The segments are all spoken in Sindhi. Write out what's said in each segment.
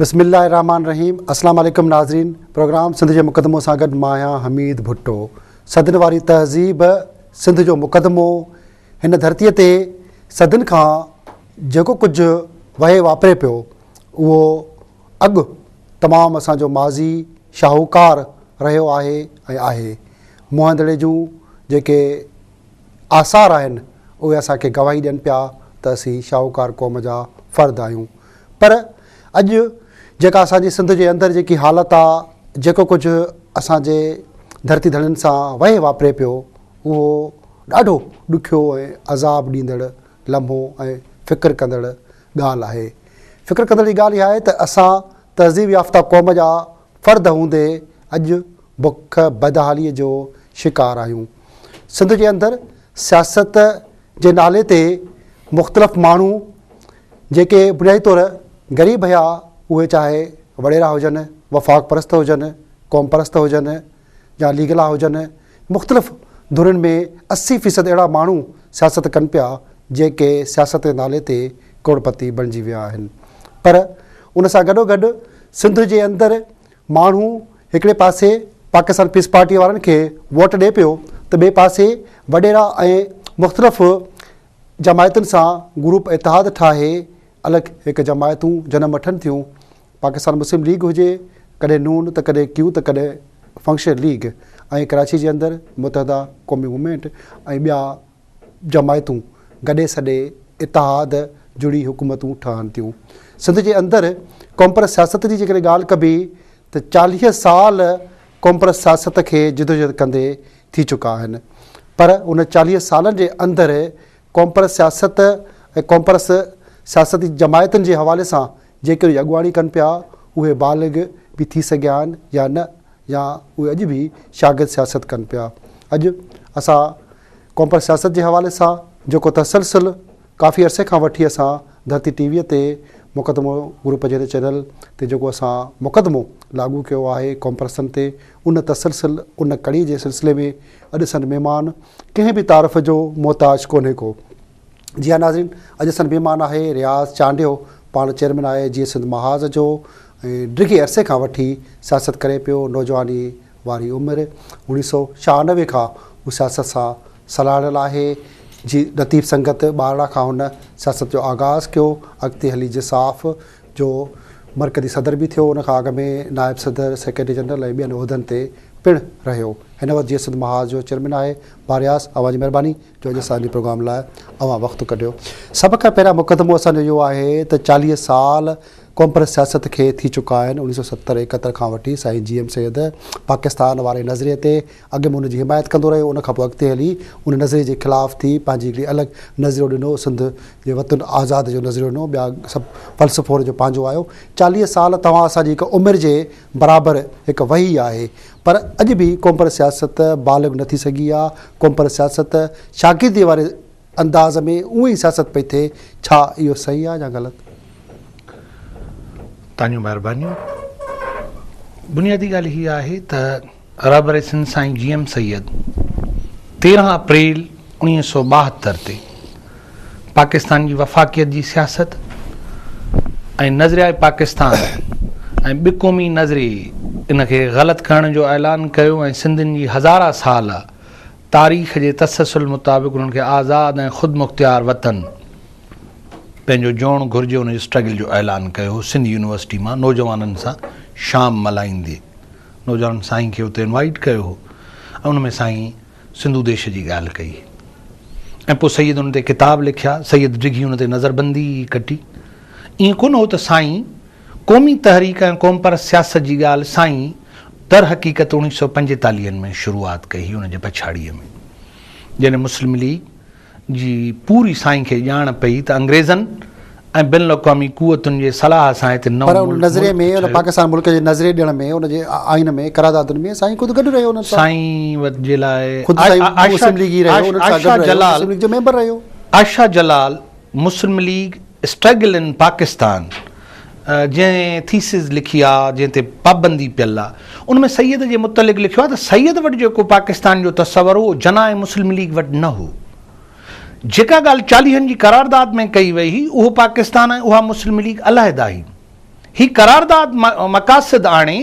بسم الله الرحمن الرحيم اسلام عليڪم ناظرين پروگرام سنڌ جو مقدمو سان گڏ مان آهيان حميد ڀٽو صدن واري تهذيب سنڌ جو مقدمو هن ڌرتي تي صدن کان جيڪو ڪجهه وهي واپري پيو اهو اڳ تمام اسان جو ماضي شاهوڪار رهيو آهي ۽ آهي. موهندڙي جون جيڪي آثار آهن اهي اسان کي گواهي ڏين پيا ته اسين شاهوڪار قوم جا فرد آهيون پر اڄ جيڪا اسان جي سنڌ جي اندر جيڪي حالت آ جيڪو ڪجهه اسان جي ڌرتي ڌڻين سان وهي واپري پيو اهو ڏاڍو ڏکيو ۽ عذاب ڏيندڙ لمحو ۽ فڪر ڪندڙ ڳالهه آهي. فڪر ڪندڙ جي ڳالهه اها آهي ته اسان تهذيب يافته قوم جا فرد هوندي اڄ بک بدحالي جو شڪار آهيون. سنڌ جي اندر سياست جي نالي تي مختلف ماڻهو جيڪي بنيادي طور غريب هيا اهي چاهي وڏيرا هجن، وفاق پرست هجن، قوم پرست هجن، يا ليگلا هجن، مختلف ڌرين ۾ اسي فيصد اهڙا ماڻهو سياست ڪن پيا جيڪي سياست جي نالي تي ڪروڙپتي بڻجي ويا آهن پر ان سان گڏوگڏ سنڌ جي اندر ماڻهو هڪڙي پاسي پاڪستان پيس پارٽي وارن کي ووٽ ڏئي پيو ته ٻئي پاسي وڏيرا ۽ مختلف جماعتن سان گروپ اتحاد ٺاهي الڳ هڪ جماعتون جنم وٺن ٿيون، پاڪستان مسلم ليگ هجي، ڪڏهن نون ته ڪڏهن ڪيو ته ڪڏهن فنڪشنل ليگ ۽ ڪراچي جي اندر متحده قومي موومينٽ ۽ ٻيا جماعتون گڏي سڏي اتحاد جڙي حڪومتون ٺهن ٿيون. سنڌ جي اندر قومپرست سياست جي جيڪڏهن ڳالهه ڪبي ته چاليهه سال قومپرست سياست کي جدوجهد ڪندي ٿي چڪا آهن پر ان چاليهه سالن جي اندر قومپرست سياست ۽ قومپرست سياسي جماعتن جي حوالي سان جيڪي اهي اڳواڻي ڪن پيا، اهي بالغ به ٿي سگهيا آهن يا نه يا اهي اڄ به شاگرد سياست ڪن پيا. اڄ اسان قومپرست سياست جي حوالي سان جيڪو تسلسل ڪافي عرصي کان وٺي اسان ڌرتي ٽي ويء تي مقدمو گروپ جهڙي چينل تي جيڪو اسان مقدمو لاڳو ڪيو آهي قومپرستن تي، ان تسلسل، ان ڪڙي جي سلسلي ۾ اڄ سندھ مھمان ڪنھن به تعارف جو محتاج ڪونھي ڪو. جي ھا ناظرين اڄ سندھ مھمان آھي رياض چانڊيو پاڻ چيئرمين آھي جيئي سنڌ محاذ جو ۽ ڊگھي عرصي کان وٺي سياست ڪري پيو نوجواني واري عمر اوڻيھ سؤ ڇھانوي کان ھو سياست سان سلھاڙيل آھي جي لطيف سنگت ٻارڙا کان ھن سياست جو آغاز ڪيو اڳتي ھلي جساف جو مرڪزي صدر به ٿيو، ان کان اڳ ۾ نائب صدر، سيڪريٽري جنرل ۽ ٻين عهدن تي پڻ رهيو. هن وقت جيئي سنڌ محاذ جو چيئرمين آهي. بارياس، اوهان جي مهرباني جو اڄ اسان جي پروگرام لاء اوهان وقت ڪڍيو. سڀ کان پهريان مقدمو اسان جو اهو آهي ته چاليهه سال قومپرست سياست کي ٿي چڪا آهن، اڻيهه سؤ ستر ايڪهتر کان وٺي سائين جي ايم سيد پاڪستان واري نظرئي تي اڳ ۾ ان جي حمايت ڪندو رهيو، ان کان پوء اڳتي هلي ان نظريي جي خلاف ٿي پنهنجي هڪڙي الڳ نظريو ڏنو، سنڌ جي وطن آزاد جو نظريو ڏنو، ٻيا سڀ فلسفو ان جو پنهنجو آيو. چاليهه سال توهان اسان جي هڪ عمر جي برابر هڪ وهي آهي، پر اڄ به قومپرست سياست بالغ نه ٿي سگهي آ، قومپرست سياست شاگرديء واري انداز ۾ اونء ئي سياست پئي ٿئي، ڇا اهو صحيح آهي يا غلط؟ تانجيون مهربانيون. بنيادي ڳالهه هيء آهي ته رهبر سنڌ سائين جي ايم سيد تيرهن اپريل اوڻيهه سؤ ٻاهتر تي پاڪستان جي وفاقيت جي سياست ۽ نظريائي پاڪستان ۽ ٻه قومي نظري ان کي غلط ڪرڻ جو اعلان ڪيو ۽ سنڌين جي هزارا سال تاريخ جي تسلسل مطابق انهن کي آزاد ۽ خودمختيار وطن پنهنجو جوڻ گهرجي ان جي اسٽرگل جو اعلان ڪيو هو سنڌ يونيورسٽي مان نوجوانن سان شام ملهائيندي نوجوانن سائين کي اتي انوائيٽ ڪيو هو ۽ ان ۾ سائين سنڌو ديش جي ڳالهه ڪئي ۽ پوء سيد ان تي ڪتاب لکيا سيد ڊگهي ان تي نظربندي ڪٽي ائين ڪونه هو ته سائين قومي تحريڪ ۽ قومپرست سياست جي ڳالهه سائين در حقيقت اوڻيهه سؤ پنجيتاليهن ۾ شروعات ڪئي هئي ان جي پڇاڙيء ۾ جڏهن مسلم ليگ جي پوري سائين کي ڄاڻ پئي ته انگريزن ۽ بين الاقوامي قوتن جي صلاح سان هتي نئون پر ان ملڪ نظريي ۾ ان ٺهيو. پاڪستان ملڪ جي نظريي ڏيڻ ۾ ان جي آئين ۾ قراردادن ۾ سائين خود گڏ رهيو انهن سان سائين وت جي لاء خود سائين آ- آ- عاشا- مسلم ليگي رهيو انهن سان گڏ عاشا رهيو جلال مسلم ليگ جو ميمبر رهيو عاشا جلال مسلم ليگ اسٽرگل ان پاڪستان جنهن ٿيسز لکي آ جنهن تي پابندي پيل آ ان ۾ سيد جي متعلق لکيو آ ته سيد وٽ جيڪو پاڪستان جو تصور هو جناح ۽ مسلم ليگ وٽ نه هو جيڪا ڳالهه چاليهن جي قرارداد ۾ ڪئي وئي هئي اهو پاڪستان ۽ اها مسلم ليگ علحده هئي هي قرارداد مقاصد آڻي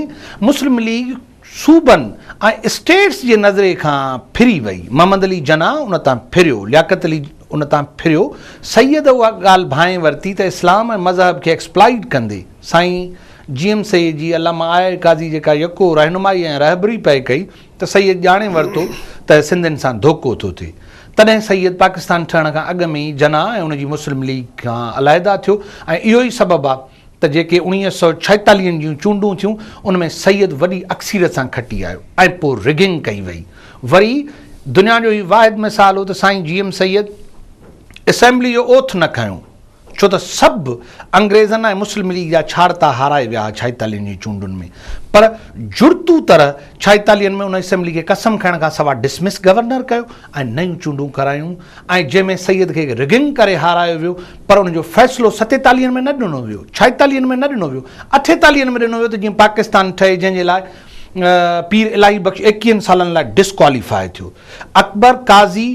مسلم ليگ صوبن ۽ اسٽيٽس جي نظري کان ڦري وئي. محمد علي جناح ان تان ڦريو، لياقت علي ان تان ڦريو. سيد اها ڳالهه ڀانئي ورتي ته اسلام ۽ مذهب کي ايڪسپلائيٽ ڪندي، سائين جي ايم سيد جي علامه آء اي قاضي جيڪا يڪو رهنمائي ۽ رهبري پئي ڪئي ته سيد ڄاڻي ورتو ته سنڌين سان ڌوڪو ٿو ٿئي. تڏهن سيد پاڪستان ٺهڻ کان اڳ ۾ ئي جناح ۽ ان جي مسلم ليگ کان علحده ٿيو ۽ اهو ئي سبب آ، ته جيڪي اڻيويهه سؤ ڇايتاليهن جون چونڊون ٿيون ان ۾ سيد وڏي اڪثيريت سان کٽي آيو ۽ پوء رگنگ ڪئي وئي وري دنيا جو هي واحد مثال هو ته سائين جي ايم سيد اسيمبلي جو اوٿ نه کنيو ڇو ته سڀ انگريزن ۽ مسلم ليگ جا ڇاڙتا هارائي ويا ها ڇايتاليهن جون چونڊن ۾ پر جڙتو طرح ڇايتاليهن ۾ ان اسيمبلي کي قسم کائڻ کان سوا ڊسمس گورنر ڪيو ۽ نيون چونڊون ڪرايون ۽ جنهن ۾ سيد کي رگنگ ڪري هارايو ويو پر ان جو فيصلو ستيتاليهن ۾ نه ڏنو ويو، ڇائيتاليهن ۾ نه ڏنو ويو، اٺيتاليهن ۾ ڏنو ويو ته جيئن پاڪستان ٺهي جنهن جي لاء پير الاهي بخش ايڪيهن سالن لاء ڊسڪواليفاء ٿيو. اڪبر قاضي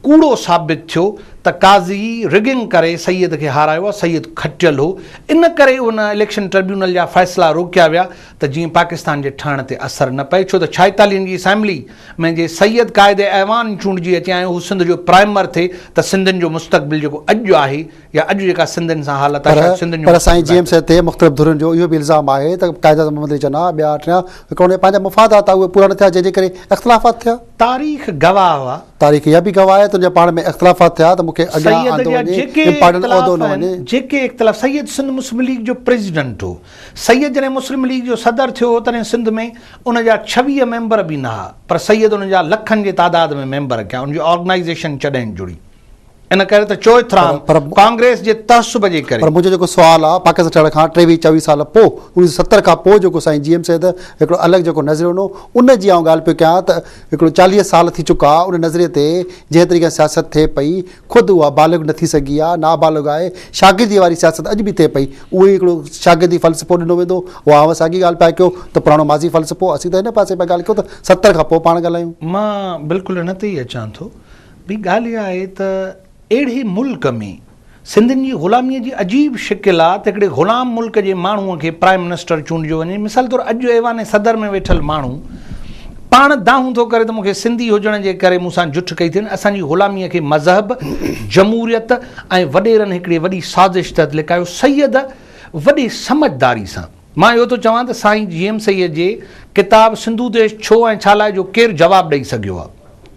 ڪوڙو ثابت ٿيو ته قاضي رگنگ ڪري سيد کي هارايو آ، سيد کٽيل هو ان ڪري ان اليڪشن ٽربيونل جا فيصلا روڪيا ويا ته جيئن پاڪستان جي ٺهڻ تي اثر نه پئي ڇو ته ڇائيتاليهن جي اسيمبلي ۾ جي سيد قائد ايوان چونڊجي اچي ۽ هو سنڌ جو پرائمر ٿي ته سنڌين جو مستقبل جيڪو اڄ جو آهي يا اڄ جيڪا سنڌين سان حالت آهي شايد سنڌين جو پر سائين جي ايم سي تي مختلف ڌرين جو اهو به الزام آهي ته قائد اعظم محمد علي جناح ٻيا ٽيا وڪرو ۾ پنهنجا مفادات آهي اهي پورا نه ٿيا جنهن جي ڪري اختلافات ٿيا. تاريخ گواهه هئا. تاريخ اها به گواهه آهي ته جڏهن پاڻ ۾ اختلافات ٿيا ته مون کي اڳيان آندو وڃي امپارٽنٽ عهدو نه وڃي. سيد جا جيڪي اختلاف آهن جيڪي اختلاف سيد سنڌ مسلم ليگ جو پريزيڊنٽ هو سيد جڏهن مسلم ليگ جو صدر ٿيو هو تڏهن سنڌ ۾ ان جا ڇويهه ميمبر به نه ها پر سيد ان جا لکن جي تعداد ۾ ميمبر ڪيا ان جي آرگنائيزيشن چڏهن جڙي ان ڪري ته چوئٿرام ڪانگريس جي تعصب جي ڪري پر منهنجو جيڪو سوال آ پاڪستان ٺهڻ کان ٽيويهه چويهه سال پوء انيس سو ستر کان پوء جيڪو سائين جي ايم سيد هڪڙو الڳ جيڪو نظريو ڏنو ان جي آئون ڳالهه پيو ڪيان ته هڪڙو چاليهه سال ٿي چڪا ان نظريي تي جنهن طريقي سان سياست ٿئي پئي خود اها بالغ نه ٿي سگهي آهي، نابالغ آهي، شاگرديء واري سياست اڄ به ٿئي پئي، اهو ئي هڪڙو شاگردي فلسفو ڏنو ويندو هو، اوهان ساڳي ڳالهه پيا ڪيو ته پراڻو ماضي فلسفو، اسين ته هن پاسي پيا ڳالهه ڪيون ته ستر کان پوء پاڻ ڳالهايون. مان بلڪل ان تي ئي اچان ٿو، ڀي ڳالهه اها آهي ته اهڙي ملڪ ۾ سنڌين جي غلاميء جي عجيب شڪل آ ته هڪڙي غلام ملڪ جي ماڻهوء کي پرائيم منسٽر چونڊجو وڃي، مثال طور اڄ ايوان صدر ۾ ويٺل ماڻهو، پاڻ دانهون ٿو ڪري ته مون کي سنڌي هجڻ جي ڪري مون سان جٺ ڪئي ٿين، اسان جي غلاميء کي مذهب، جمهوريت ۽ وڏيرن هڪڙي وڏي سازش تحت لڪايو، سيد وڏي سمجهداري سان، مان اهو ٿو چوان ته سائين جي ايم سيد جي ڪتاب سنڌو ديش ڇو ۽ ڇا لاء جو ڪير جواب ڏئي سگهيو آهي؟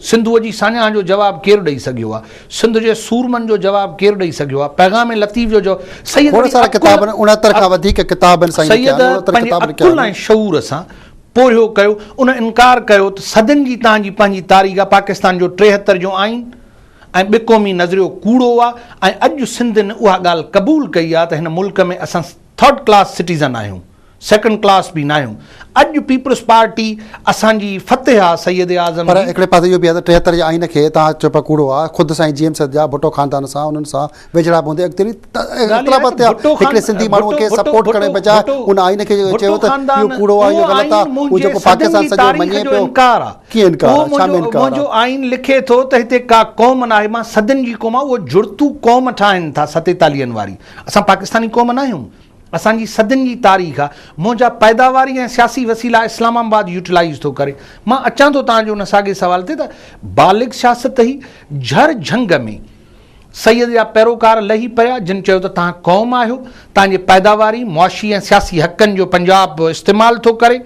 سنڌوء جي ساڃاهه جو جواب ڪير ڏئي سگهيو آهي؟ سنڌ جي سورمن جو جواب ڪير ڏئي سگهيو آهي؟ پيغام لطيف جو جواب سيد وڏي عقل سيد پنهنجي عقل ۽ شعور سان پورهيو ڪيو، ان انڪار ڪيو ته صدين جي توهان جي پنهنجي تاريخ آ، پاڪستان جو ٽيهتر جو آئين ۽ ٻه قومي نظريو ڪوڙو آ ۽ اڄ سنڌ ن اها ڳالهه قبول ڪئي آ ته هن ملڪ ۾ اسان ٿرڊ ڪلاس سٽيزن آهيون، سيڪنڊ ڪلاس به ناهيون، اڄ پيپلز پارٽي اسان جي فتح آ سيد اعظم پر جي. هڪڙي پاسي اهو به آ ته ٽيهتر جي آئين کي توهان چئو پيا ڪوڙو آ، خود سائين جي ايم سيد جا ڀٽو خاندان سان انهن سان ويجهڙائپ هوندي اڳترين اختلافات تي هڪڙي سنڌي ماڻهو کي سپورٽ ڪرڻ جي بجاء ان آئين کي چيو ته اهو ڪوڙو آهي اهو غلط آهي اهو جيڪو پاڪستان سڄو مڃي پيو ڪيئن انڪار آهي ڇا ۾ انڪار آهي منهنجو آئين لکي ٿو ته هتي ڪا قوم ناهي مان سڌن جي قوم آهي اهو جڙتو قوم ٺاهن ٿا ستيتاليهن واري اسان پاڪستاني قوم ناهيون اسان جي سڌن جي تاريخ آهي منهنجا پيداواري ۽ سياسي وسيلا اسلام آباد يوٽيلائز ٿو ڪري مان اچان ٿو تهان جي ان ساڳي سوال تي ته بالغ سياست هي جهر جهنگ ۾ سيد جا پيروڪار لهي پيا جن چيو ته توهان قوم آهيو توهان جي پيداواري، معاشي ۽ سياسي حقن جو پنجاب به استعمال ٿو ڪري.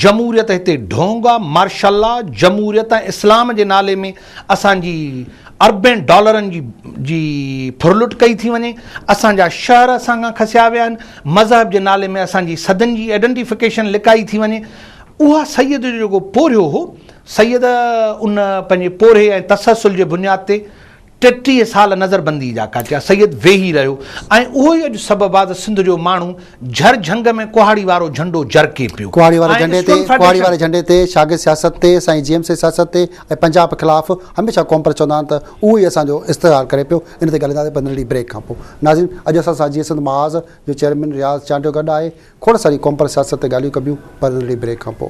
جمهوريت هتي ڍونگ آ، مارشل لا، جمهوريت ۽ اسلام جي نالي ۾ اسان جي اربين ڊالرن جي جي ڦرلٽ ڪئي ٿي وڃي، اسان جا شهر اسان کان کسيا ويا آهن، مذهب جي نالي ۾ اسان جي سڌن جي ايڊنٽيفڪيشن لڪائي ٿي وڃي. اها سيد جو جيڪو پورهيو هو سيد ان پنهنجي پورهيي ۽ تسلسل جي بنياد تي ٽيٽيهه سال نظر بندي جا ڪاٽيا. سيد ويهي رهيو ۽ اهو ئي اڄ سبب آ ته سنڌ جو ماڻهو جهر جهنگ ۾ ڪهاڙي وارو جهنڊو جرڪي پيو. ڪهاڙي واري جهنڊي تي ڪهاڙي واري جهنڊي تي شاگرد سياست تي سائين جي ايم سي سياست تي ۽ پنجاب خلاف هميشه قوم پرست چوندا آهن ته اهو ئي اسان جو استحصال ڪري پيو ان تي ڳالهائينداسين پندرهن ڏينهن بريڪ کان پوء ناظرين اڄ اسان سان جي سنڌ محاذ جو چيئرمين رياض چانڊيو گڏ آهي کوڙ ساري قوم پر سياست تي ڳالهيون ڪبيون پر ننڍڙي بريڪ کان پوء.